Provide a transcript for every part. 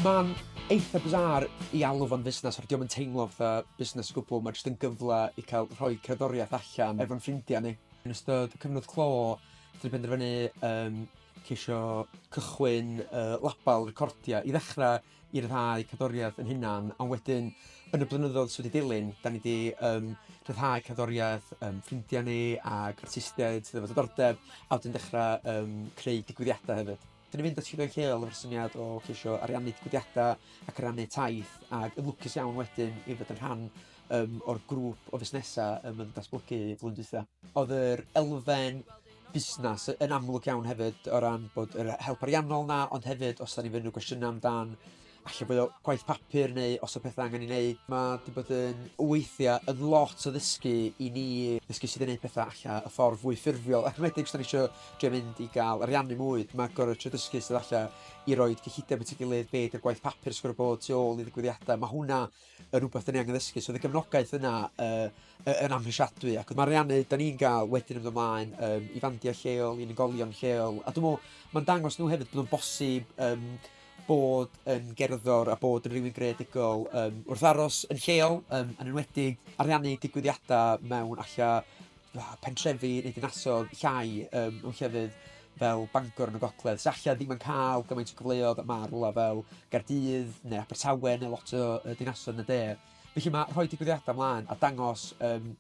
Mae'n eitha bizarre ei alw fo'n fusnes oherwydd 'di o'm yn teimlo fatha busnes o gwbl, mae jyst yn gyfle i cael rhoi cerddoriaeth allan efo'n ffrindiau ni. Yn ystod y cyfnod clo wnaethon ni benderfynu yym ceisio cychwyn yy label recordiau i ddechrau i ryddhau cerddoriaeth ein hunain ond wedyn yn y blynyddoedd sy' wedi dilyn dan ni 'di yym rhyddhau cerddoriaeth yym ffrindiau ni ac artistiaid sydd efo diddordeb a wedyn dechrau yym creu digwyddiadau hefyd. Dan ni'n mynd at Sioeau Lleol efo'r syniad o ceisio ariannu digwyddiadau ac ariannu taith ac yn lwcus iawn wedyn i fod yn rhan yym o'r grŵp o fusnesau yym yn datblygu flwyddyn dwytha. Oedd yr elfen busnes yn amlwg iawn hefyd o ran bod yr help ariannol 'na ond hefyd os dan ni'n mynd i roi cwestiynau amdan... Falle bod o gwaith papur neu os yw pethau angen ei wneud. Mae 'di bod yn weithiau yn lot o ddysgu i ni, ddysgu sut i wneud pethau alla y ffordd fwy ffurfiol. Ac yn enwedig os dan ni isio drio mynd i gael ariannu mwy, mae gorfod trio dysgu sut alla i roid cyllideb at ei gilydd, be 'di'r gwaith papur sy gorfod bod tu ôl i ddigwyddiadau. Mae hwnna yn rywbeth dan ni angen ddysgu. So oedd y gefnogaeth yna yy y- yn amhrisiadwy ac oedd mae ariannu dan ni'n gael wedyn yn mynd ymlaen yym i fandiau lleol, i unigolion lleol. A dwi'n meddwl mae'n dangos nhw hefyd bod o'n bosib yym... bod yn gerddor a bod yn rywun greadigol yym wrth aros yn lleol, yym yn enwedig ariannu digwyddiadau mewn alla fatha pentrefi neu dinasoedd llai yym mewn llefydd fel Bangor yn y Gogledd sy alla ddim yn cael gymaint o gyfleoedd a ma' rywle fel Caerdydd neu Abertawe neu lot o yy dinasoedd yn y De. Felly mae rhoi digwyddiadau 'mlaen a dangos yym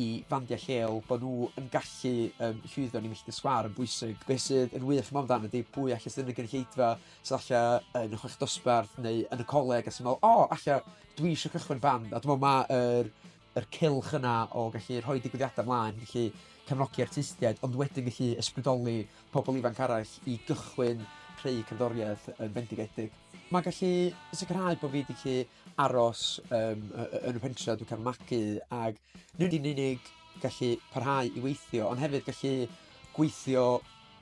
i fandiau lleol bod nhw yn gallu yym llwyddo yn eu milltir sgwâr yn bwysig. Be sydd yn wych am amdan ydy pwy all jyst mynd i gynulleidfa sy falle yn y chweched dosbarth neu yn y coleg a sy'n meddwl "O! Alla dwi isio cychwyn band." A dwi'n meddwl ma' yr yr cylch yna o gallu rhoi digwyddiadau 'mlaen, gallu cefnogi artistiaid ond wedyn gallu ysbrydoli pobl ifanc arall i gychwyn creu cerddoriaeth yn fendigedig. Mae'n gallu sicrhau bod fi 'di gallu... aros yym y- y- yn y pentre a dwi'n cael fy magu ac nid yn unig gallu parhau i weithio ond hefyd gallu gweithio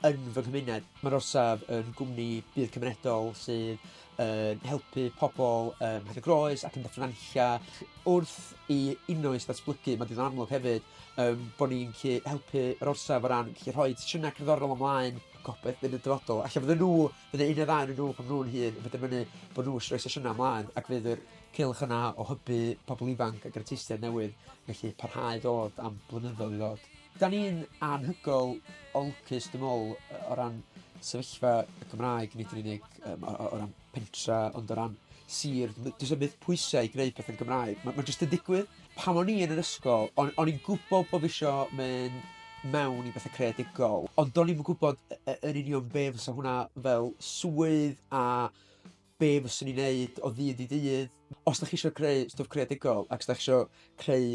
yn fy nghymuned. Mae'r orsaf yn gwmni budd cymunedol sydd yn helpu pobl ym Mhenygroes ac yn Dyffryn Nantlle wrth i Innoeth ddatblygu. Mae'n ddigon amlwg hefyd yym bod ni'n gallu helpu yr orsaf o ran gallu rhoi sesiynau cerddorol ymlaen, gobeithio yn y dyfodol ella fyddan nhw... Bydd y un neu ddau ohonyn nhw pan maen nhw'n hŷn yn penderfynu bod nhw isho rhoi sesiynau ymlaen ac fydd yr cylch yna o hybu pobl ifanc ac artistiaid newydd felly parhau i ddod am blynyddoedd i ddod. Dan ni'n anhygoel o lwcus dwi'n meddwl yy o ran sefyllfa y Gymraeg nid yn unig yym o o o ran pentre ond o ran sir. Does 'na ddim pwysau i gwneud pethau'n Gymraeg. Ma' ma' jyst yn digwydd. Pan o'n i yn yr ysgol o'n o'n i'n gwbod bod fi isio mynd mewn i betha creadigol ond do'n i'm yn gwbod y- y- yn union be fysa hwnna fel swydd a be fyswn i'n wneud o ddydd i ddydd. Os dach chi isio creu stwff creadigol ac os dach chi isio creu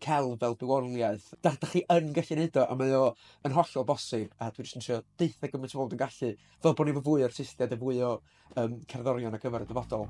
celf fel bywoliaeth da- dach chi yn gallu wneud o a mae o yn hollol bosib a dwi jyst yn trio deutha gymaint o bobl dwi'n gallu fel bod ni efo fwy o artistiaid a fwy o... Yym, cerddorion ar gyfer y dyfodol.